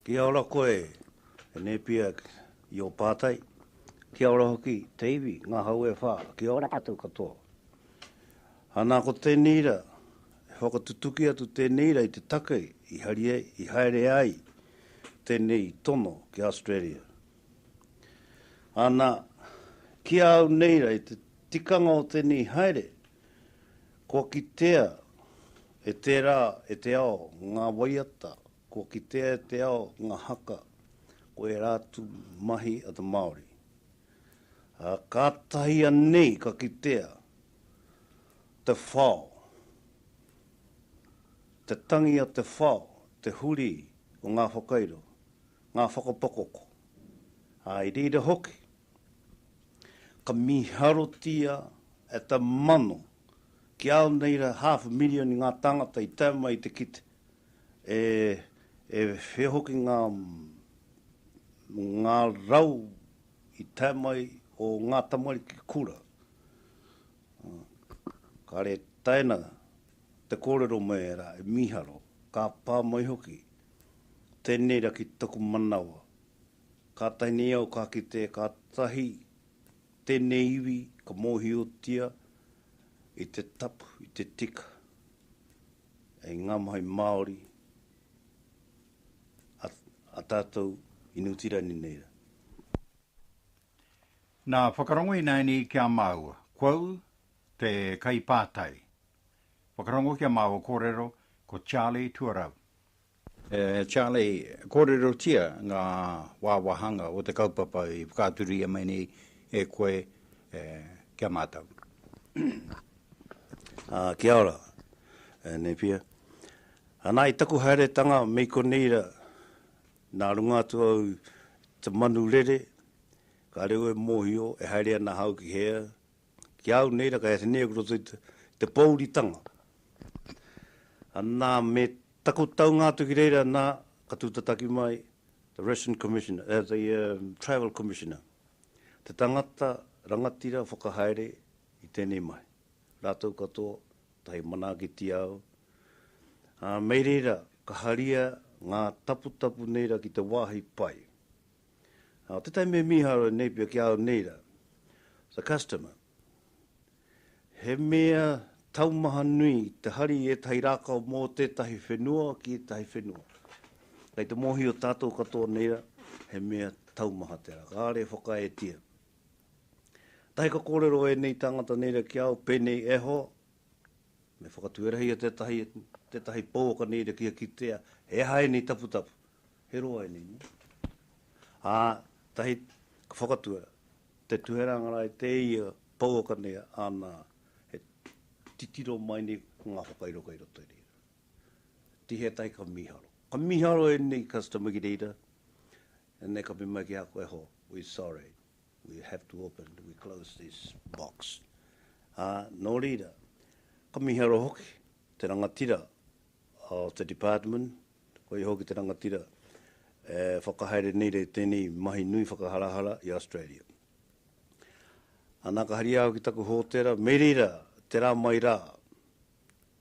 Kia ora koe, e Nēpia, i ō pātai. Kia ora hoki, te iwi, ngā hau e whā, kia ora koutou katoa. Ana ko tēnei ra, e whakatutuki atu tēnei ra i te take i hari ai, i haere ai tēnei tono ki Australia. Ana, ki a au nei ra i te tikanga o tēnei haere, kua kitea e tērā, e te ao, ngā waiata Kua kitea e te ao ngā haka ko ērā atu mahi a te Māori, ā, kātahi anei ka kitea te whao, te tangi a te whao, te huri o ngā whakairo, ngā whakapakoko, ā, i reira hoki ka mīharotia e te mano, ki au nei rā, hāfu mirioni ngā tāngata i tae mai i te kite. E, e whea hoki ngā, ngā rau i tae mai o ngā tamariki kura. Kāre taina te kōrero mai ērā e mīharo, ka pā mai hoki, tēnei ra ki taku manawa. Kātahi nei au ka kite kātahi tēnei iwi ka mōhiotia i te tapu, i te tika. E nga mahi Maori a tatou i Niutirani nei ra. Na, whakarongo inaini ki a maua, quou te kaipātai. Whakarongo ki a maua korero ko Charlie Tuarau. E Charlie, kōrerotia ngā wāwāhanga o te kaupapa i whakaaturia mai nei e koe ki a mātou. Kia ora, e Nēpia. Anā, i taku haeretanga me i konei rā, nā runga atu au i te manu rere, kāore au e mōhio e haere ana ahau ki hea, ki a au nei rā, kei a Tenei aku roto i te, te pōuritanga. Nā, me taku taunga atu ki reira, nā, ka tūtataki mai the Ration Commissioner, eh, the um, Travel Commissioner, te tangata rangatira whakahaere i tēnei mahi. Rātou katoa, tahi manaakitia au. Ā, mei reira, ka haria ngā taputapu nei rā ki te wāhi pai. Nā tētahi mea mīharo e Napier ki a au nei rā, the customer, he mea taumaha nui te hari i ētahi rākau mō tētahi whenua ki ētahi whenua. Kei te mōhio tātou katoa nei rā, he mea taumaha tērā, kāore e whakaetia. Kātahi ka kōrero ēnei tāngata nei rā ki a au pēnei, E hoa, me whakatuerahia tētahi, tētahi pouaka nei rā kia kitea he aha ēnei taputapu, He roa enei no. A tahi ka whakatua te tuhera ngarae te ia pouaka nei ana he titiro mai nei ko nga whakairo kai roto i reira. Tihea tahi ka miharo. Ka miharo enei customer ki reira and they ka me mai ki a koe ho we sorry we have to open we close this box. A no reira ka miharo hoki te rangatira o te department Koia hoki te rangatira e whakahaere nei rei tēnei mahi nui whakaharahara i Australia. Ana ka haria au ki taku hōtera me reira te rā mai rā,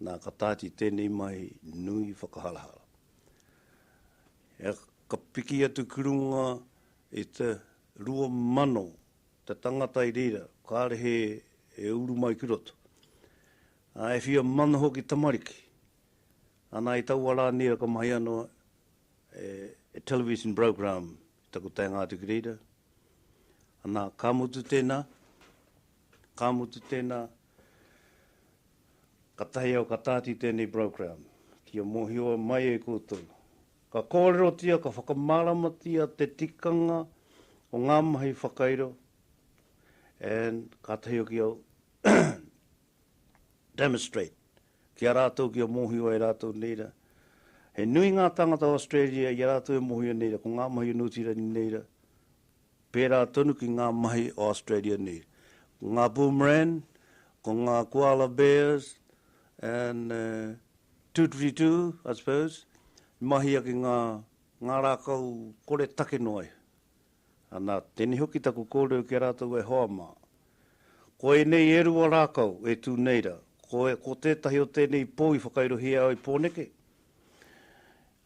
nā ka tāti tēnei mahi nui whakaharahara. He ka piki atu ki runga i te rua mano te tangata i reira kāre he e uru mai ki roto. Ā, e whia mano hoki tamariki Ana i taua ra nera ka mahi ano e television program i taku taenga atu ki reira. Ana ka mutu tena, ka mutu tena, katahi au ka tati i tenei program kia mohio mai e koutou. Ka korerotia, ka whakamaramatia te tikanga o nga mahi whakairo and katahi hoki au demonstrate Ki a rātou kia mōhio ai rātou nei rā, he nui ngā tāngata o Australia i a rātou e mōhio nei rā ko ngā mahi o Nūti Rani nei rā, pērā tonu ki ngā mahi o Australia nei. Ko ngā Boomerang, ko ngā Koala Bears and Tūturitu, I suppose, i mahia ki ngā rākau kore take noa iho. Ana, tēnei hoki taku kōrero ki a rātou e hoa mā. Ko ēnei e rua rākau e tū nei rā, ko, ko tētahi o tēnei pou i whakairohia au i Pōneke,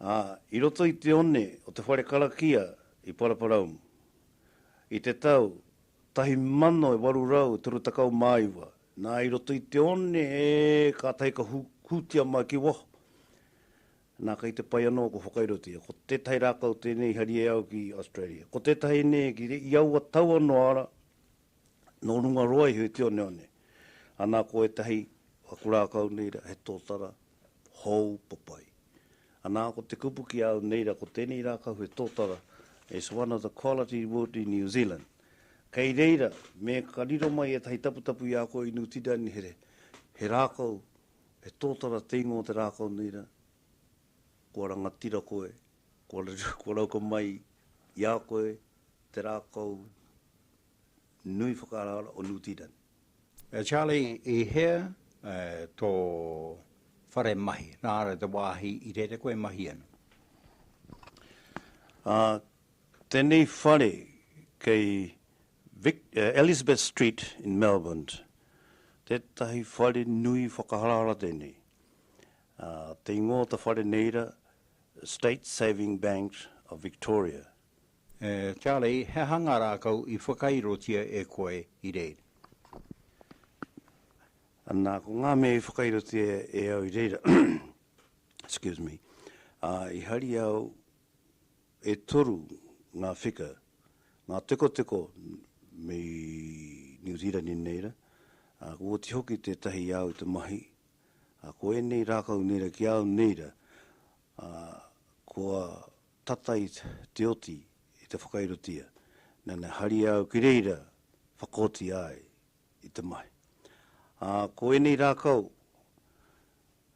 ā, i roto i te one o te whare karakia i Paraparaumu, i te tau tahi mano e waru rau e toru takau mā iwa, nā, i roto i te one, e, kātahi ka hūtia mai ki waho. Nā, kei te pai anō ko Whakairotia. Ko tētahi rākau tēnei i hari e au ki Australia. Ko tētahi nē, ki i aua tau anō ara, nō runga roa iho i te oneone. Anā ko ētahi, aku rākau nei rā, he tōtara hou papai. Anā, ko te kupu ki a au nei rā, ko tēnei rākau he tōtara, it's one of the quality wood in New Zealand. Kei reira, me ka riro mai ētahi taputapu i a koe i New Tiranihire, he rākau He tōtara te ingoa o te rākau nei rā. Kua rangatira koe, kua rauka mai i a koe te rākau nui whakaaraara o Niu Tīreni. E Charlie, i hea tō whare mahi, nā reira te wāhi i rere koe e mahi ana? Ā, tēnei whare kei Vic, Elizabeth Street in Melbourne. Tētahi whare nui whakaharahara tēnei. Te ingoa o te whare nei ra, State Saving Bank of Victoria. E, Charlie, he aha nga rakau i whakairotia e koe i reira? Ana, ko nga mea i whakairotia e au i reira, excuse me, i hari au, E toru ngā whika, ngā tekoteko me Niu Zīrani nei rā, ā, ko oti hoki tētahi i a au te mahi, ā, ko ēnei rākau nei rā ki a au nei rā, ā, kua tata i te oti i te whakairotia, nana haria au ki reira whakaotia ai i te mahi. Ā, ko ēnei rākau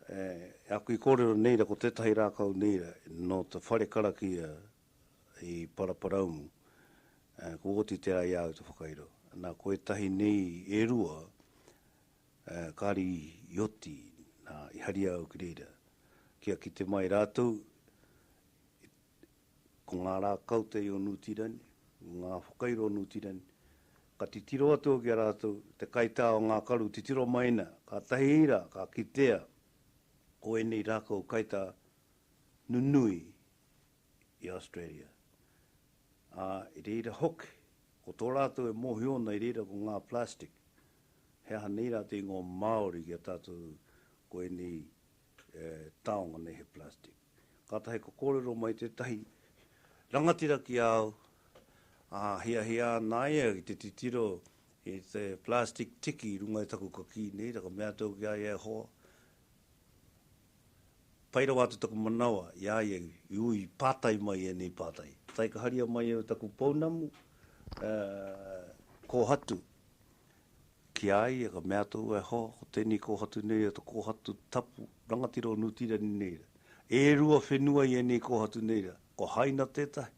E aku i kōrero nei ra ko tētahi rākau nei ra nō te whare karakia i Paraparaumu, ko Oti te ai āu te whakairo. Na, ko ētahi nei e rua kāri i oti, na, i haria au ki reira kia kite mai rātou Ko ngā rā kautei o Nūtirani, ngā whakairo o Nūtirani, ka titiro atu ki a rātou te kaitā o ngā karu titiro mai nā, kātahi rā ka kitea ko ēnei rākau kaitā nunui i Australia. Ā, i reira hoki, ko tō rātou e mōhio ana i reira ko ngā plastic, he aha nei rā te ingoa Māori ki a tātou ko ēnei e taonga nei he plastic. Katahi ka korero mai tetahi rangatira ki a au, a hiahia ana ia ki te titiro i te plastic tiki i runga i taku kakī nei, ka mea atu au ki a ia, e hoa, pai rawa atu taku manawa i a ia i ui pātai mai enei pātai. Taikaharia mai au taku pounamu, e, kohatu, Ki a ia ka mea atu e hoa, ko tenei kohatu nei a to kohatu tapu rangatira o Nu Tirani nei ra. E rua whenua i enei kohatu nei ra, ko Haina tetahi,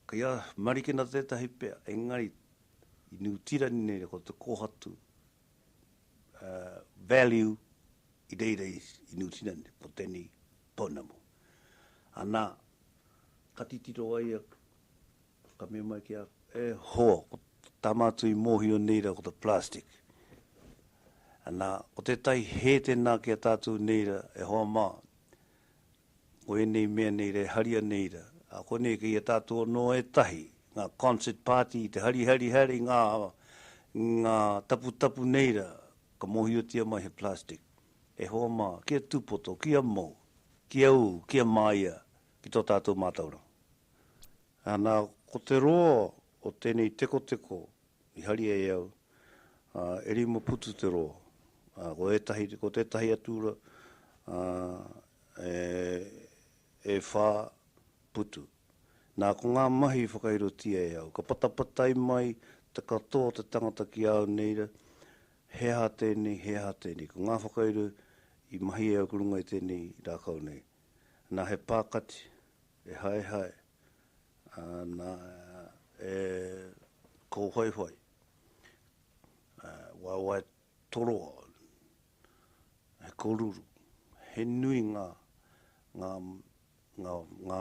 kei a Marikena tetahi pea, engari i Nu Tirani nei ra ko te kohatu value i reira i Nu Tirani, ko tenei pounamu. Ana, ka titiro a ia Ka mea mai ki a, e hoa, ko tā mātou i mōhio nei rā ko te plastic. Anā, ko tētahi hē tēnā ki a tātou nei rā, e hoa mā, ko ēnei mea nei rā e haria nei rā. Ā, koinei kei a tātou anō ētahi, ngā concert party, te harihari haere i ngā, ngā taputapu nei rā, ka mōhiotia mai he plastic. E hoa mā, kia tūpoto, kia mou, kia ū, kia māia ki tō tātou mātauranga. Ana, ko te roa o tenei tekoteko i haria e au, e rima putu te roa. Ko etahi, ko tetahi atu ra, e wha putu. Na, ko nga mahi i whakairotia e au. Ka patapatai mai te katoa o te tangata ki a au nei ra, he aha tenei, he aha tenei. Ko nga whakairo i mahi e au ki runga i tenei rakau nei. Na, he pa kati, E haehae ana e kōwhaiwhai, e waewae toroa, he koruru, he nui ngā, ngā, ngā, ngā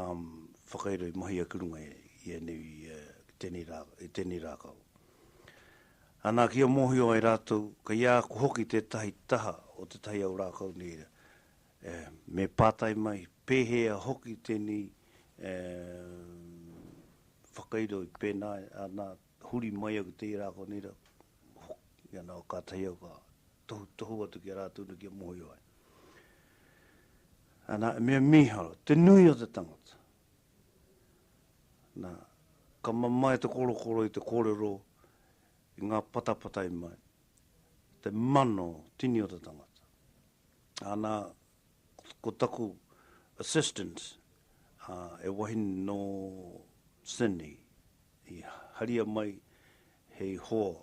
whakairo i mahia ki runga i ēnei, i tēnei rā, i tēnei rākau. Ana, kia mōhio ai rātou, kei a koe hoki tētahi taha o tētahi au rākau nei, E, me pātai mai, pēhea hoki tēnei e, whakairo i pēnā, ana, huri mai au ki tērā konei rā, hoki ana, kātahi au ka tohutohu atu ki a rātou nā kia mōhio ai. Ana, e mea mīharo, te nui o te tangata. Nā, ka mamae te korokoro i te kōrero, i ngā patapatai mai, te mano tini o te tangata. Ana, ko taku assistant, he wahine nō Sydney, i haria mai hei hoa,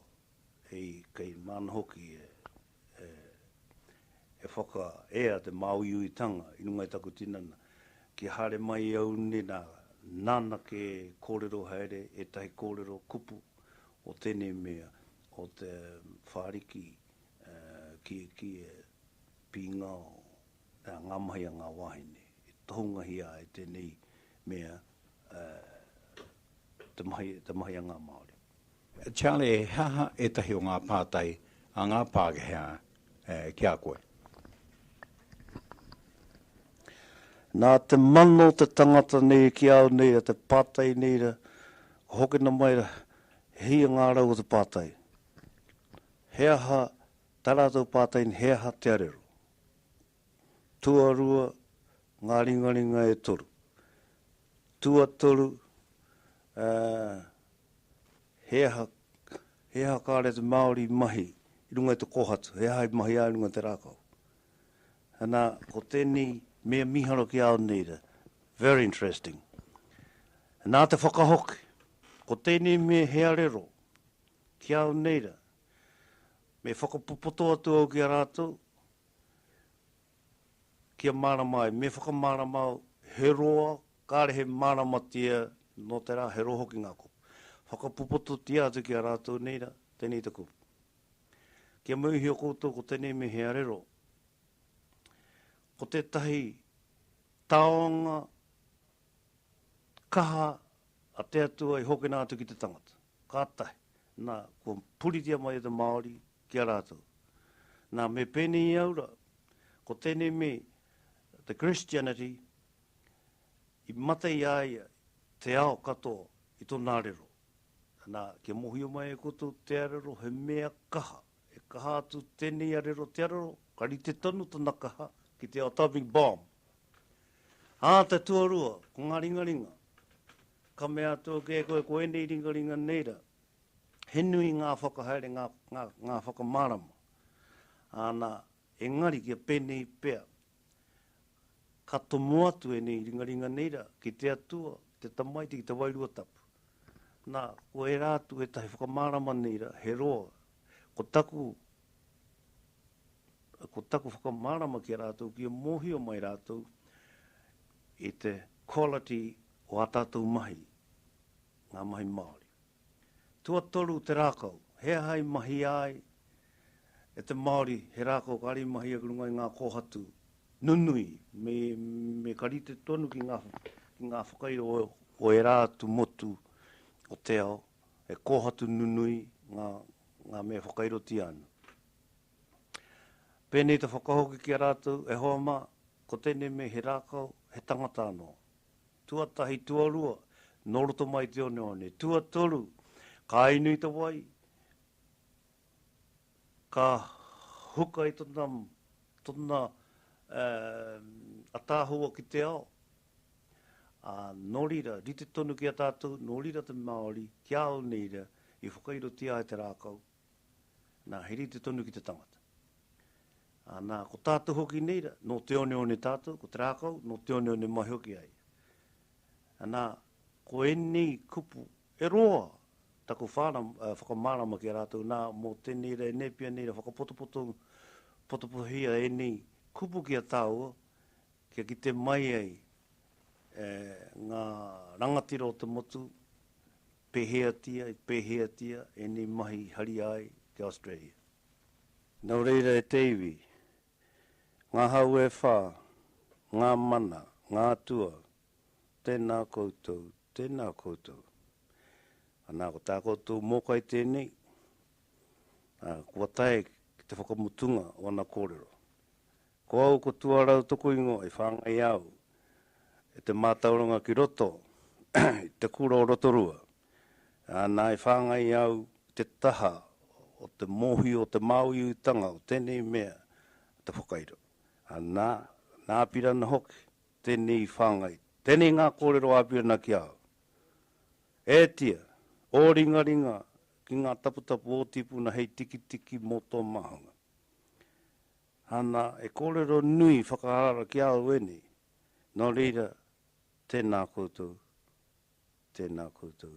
hei kei māna hoki e whakaea te māuiuitanga i runga i taku tinana. Kia haere mai au nei, nā, nāna kē e kōrero haere ētahi kōrero kupu o tēnei mea, o te whāriki Kiekie, Pīngao, nā, ngā mahi a ngā wāhine. E tohungahia ai tēnei mea te mahi a ngā Māori. Charlie, he aha ētahi o ngā pātai a ngā Pākehā ki a koe? Nā te mana o te tangata nei ki au nei rā, te pātai nei rā, ka hokena mai rā, he hia ngā rau o te pātai. He aha tā rātou pātaini, he aha te arero? Tuarua ngā ringaringa e toru. Tuatoru, ā, he aha, he aha kāre te Māori i mahi i runga i te kōhatu, he aha i mahi ai i runga i te rākau? Ana, ko tēnei mea mīharo ki a au nei rā, very interesting. Nā te whakahoki, ko tēnei mea he arero, Ki au nei ra, me whakapopoto atu au ki a ratou, kia marama ai, me whakamarama au, he roa, kare he maramatia no te ra, he roa hoki nga kupu. Whakapopototia atu ki a ratou nei ra, tenei te kupu. Kia mauihia koutou ko tenei me he arero, ko tetahi taonga kaha A te Atua i hokena atu ki te tangata. Kātahi, nā, kua puritia mai e te Māori ki a rātou. Nā, me pēnei i au rā, ko tēnei me te Christianity i mate i a ia te ao katoa i tōna arero. Nā, kia mōhio mai e koutou te arero he mea kaha. He kaha atu tenei arero te arero, ka rite tonu tana kaha ki te atomic bomb. A te tuarua, ko nga ringaringa. Ka mea atu ake e koe ko enei ringaringa nei ra, he nui nga whakahaere, nga, nga, nga whakamarama. Ana, Engari kia penei pea, ka tomo atu enei ringaringa nei ra ki te Atua, ki te Tamaiti, ki te Wairua Tapu. Na, ko era atu etahi whakamarama nei ra, he roa. Ko taku, ko taku whakamarama ki a ratou kia mohio mai ratou i te quality o a tatou mahi, nga mahi Maori. Tuatoru te rākau, he aha i mahia ai e te Māori he rākau kāre i mahia ki runga i ngā kōhatu nunui, me, me ka rite tonu ki ngā, ki ngā whakairo o, o ērā atu motu o te ao, he kōhatu nunui ngā, ngā mea whakairotia ana. Pēnei te whakahoki ki a rātou, e hoa mā, ko tēnei mea he rākau, he tangata anō. Tuatahi, tuarua, nō roto mai te oneone. Tuatoru, ka inui te wai, ka huka i tona, tona ataahua ki te ao. Ā, nō reira, rite tonu ki a tātou, nō reira te Māori, ki a au nei rā, i whakairotia ai te rākau, Nā, he rite tonu ki te tangata. Ā, nā, ko tātou hoki nei rā, nō te oneone tātou, ko te rākau, nō te oneone mai hoki a ia. Ā, nā, ko ēnei kupu e roa taku whārama, whakamārama ki a rātou, nā, mō tēnei rā, e Nēpia nei rā, whakapotopoto, potopohia ēnei kupu ki a tāua, kia kite mai ai e, ngā rangatira o te motu, Pēheatia i pēheatia ēnei mahi i haria ai ki Australia? Nō reira e te iwi, ngā hau e whā, ngā mana, ngā atua, tēnā koutou, tēnā koutou. Anā, ko tā koutou mōkai tēnei, ā, kua tae ki te whakamutunga o ana kōrero. Ko au ko tuarau toku ingoa i whangai au e te matauranga ki roto i te kura o Rotorua ana i whangai au i te taha o te mohio o te Māuiuitanga o tenei mea te whakairo ana na apira ana hoki tenei i whangai tenei nga korero a apira ana ki au e tia o ringaringa ki nga taputapu o tipuna hei tikitiki mo to mahanga Ana, he kōrero nui whakaara ki a au ēnei. Nō reira, tēnā koutou, tēnā koutou.